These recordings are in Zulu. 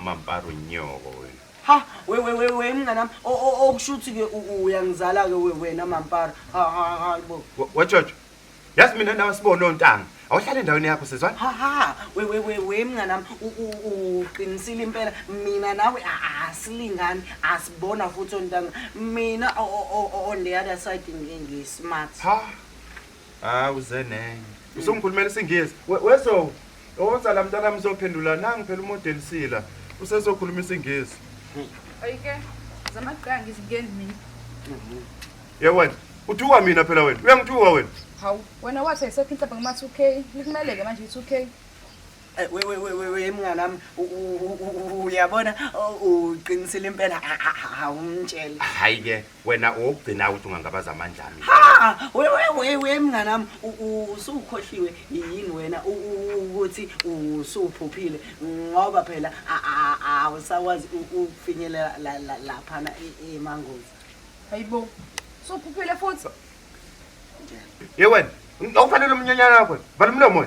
Mampara unyoko wena. Ha we we we we mnganami okushuthi ke uyangizala ke wena mampara. Ha ha ha bo. Wajojo. Yazi mina nawe sibona ontanga. Awuhlale endaweni yakho sizwana? Ha ha we we we we mnganami uqinisile impela mina nawe asilingani asibona futhi ontanga. Mina on the other side ngismart. Ha hawu uze nenye usungikhulumela isingisi wezo oza la mntana mzophendula nangi phela umodeli sila usezokhuluma isingisi ayike zamaqanga izingeni mina yewena uthuka mina phela wena uyangithuka wena hawu wena wathi ayisekho inhlaba ngama 2 k likumeleke manje i-2 k Eh, wewewewe mnganami uyabona uqinisile impela awumtshele hayi ke wena owokugcina ukuthi ungangabaza amandla ami ha wewewewe mngane wami usukhohliwe yini wena ukuthi usuphuphile ngoba phela awusakwazi ukufinyelela laphana e, e, emangozi hayibo suphuphile futhi ye wena okufanele umnyanyana wakho balumlomo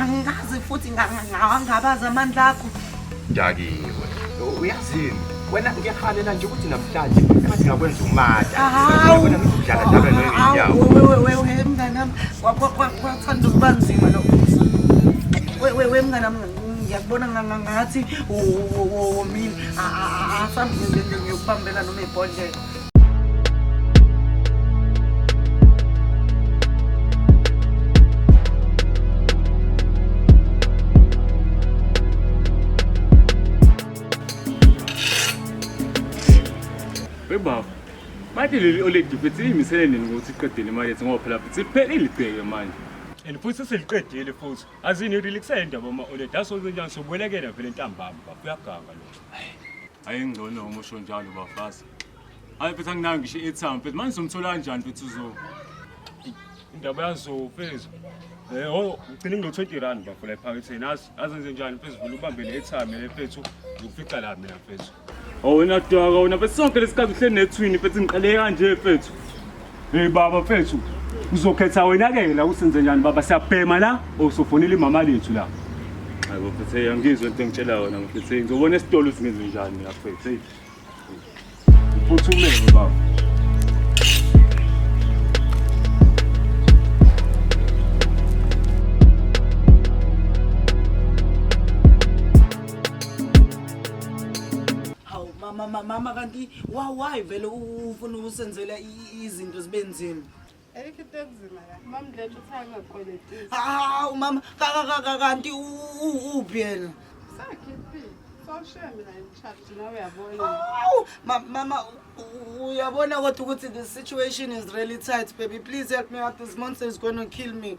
angazi futhi ngawangabaza amandla akho dakiwe uyazini wena ngiyahalela nje ukuthi namhlanje ngathi ngakwenza umata wena ngidlala njalo ngenyawo wewe wewe mnganami kwathanda ukuba nzima lo wewe wewe mnganami ngiyakubona ngathi womile asambe ngiyokubambela noma ibhodlela baba manje leli oledi futhi liyimisele nini ukuthi iqedele imali ethi ngoba phela futhi liphele ilibheke manje and futhi seliqedile futhi azini relaxayo indaba uma oledi asozenjani sobuyelekela vele ntambama baba uyaganga lo hayi ingcono uma usho njalo bafazi Hayi mfethu anginayo ngisho i-airtime mfethu manje somthola kanjani mfethu uzo indaba yazo mfethu Eh, oh, ngicela ngilo-twenty rand bafo la ephaketheni azi azenze njani mfethu vele ubambe ne-airtime le mfethu ngikufica la mina mfethu Oh, wena dwaka wena mfethu sonke lesikhathi uhleli nethwini mfethu ngiqale kanje mfethu Hey baba mfethu uzokhetha wena ke la usenze njani baba siyabhema la or sofonela imama lethu la Hayi bafethu hey angizwe into engitshela yona mfethu hey ngizobona esitolo singenze njani mina mfethu hey Uphuthumelwe baba. Hawu mama mama mama kanti why why vele ufuna usenzela i- i- izinto zibe nzima. Ayikho into enzima la. Mama Ndlethu uthe angakweletisi. Ah, umama kanti uphi yena? Sakhiphile. Sawushiya mina ngimcharge nawe uyabona. Awu, ma- mama u- u- uyabona kodwa ukuthi the situation is really tight baby please help me out this monster is going to kill me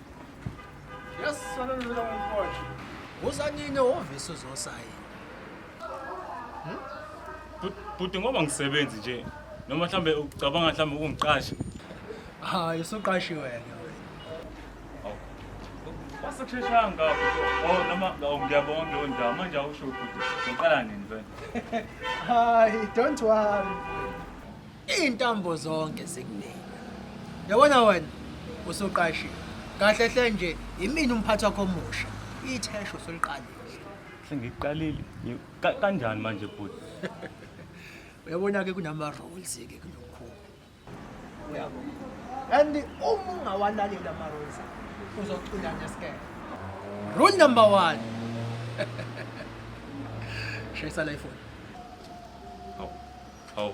Yes, sana ndio ndio mkoa. Uza nini ofisi uzosayina? Bhuti ngoba ngisebenzi nje noma mhlambe ucabanga mhlambe ukungiqasha. Ah, usuqashi wena. Wasekusheshanga ngapho. Oh noma ngiyabonga ngiyo ndawo manje awusho ukuthi ngiqala nini mfana. Hayi, don't worry. Iintambo zonke zikunina. Yabona wena usuqashiwe. Kahle hle nje yimina umphathi wakho omusha. Ithesho soliqalile. Sengiqalile. Ngi- ka- Kanjani manje bhuti? Uyabona ke kunama rules ke kulokhu. Uyabo. And uma ungawalaleli ama rules uzocula ngesikele. Rule number 1. Shayisa la ifoni. Hawu. Hawu.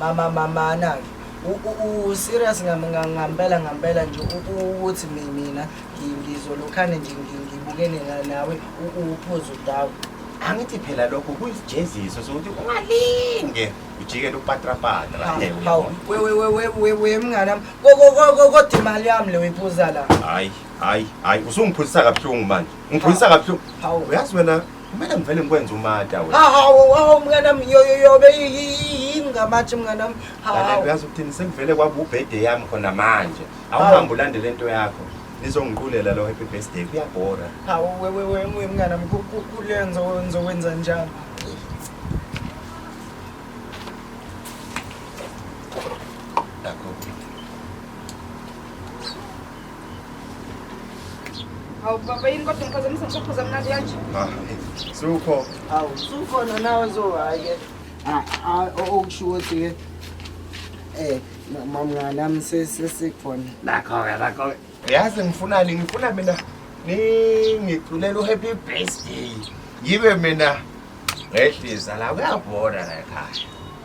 Mama mama anake. U serious ngampela ngampela nje ukuthi mina ngizolokhane nje ngibukene nawe uphuzo dawo. angithi phela lokho kuyisijeziso sokuthi ungalinge ujikele upatrapatra wemnganam kodwa imali yami le uyiphuza la hayi hayi hayi usungiphuzisa kabuhlungu manje ngiphuzisa kabuhlungu uyazi wena Kumele ngivele ngikwenze umata wena. Hawu, hawu mngane wami yo yo yo yini ngamathi mngane wami. Hawu. Uyazi ukuthini sekuvele kwaba ubhede yami khona manje. Awuhambe ulandele into yakho. Nizongiqulela lo happy birthday kuyabhora. Hawu wewe wewe mngane wami kulenza wenza wenza njani? Hawu baba yini kodwa ngiphazamisa ngishaphuza mnandi kanje. Ah, sukho. Hawu sukhona nawe zohayi ke. Ah, ah okusho ukuthi ke eh mamngani nami sesikhona. Nakho ke nakho. Yazi ngifunani ngifuna mina ningiculela uhappy birthday. Yibe mina ngehlisa la kuyabhoda la ekhaya.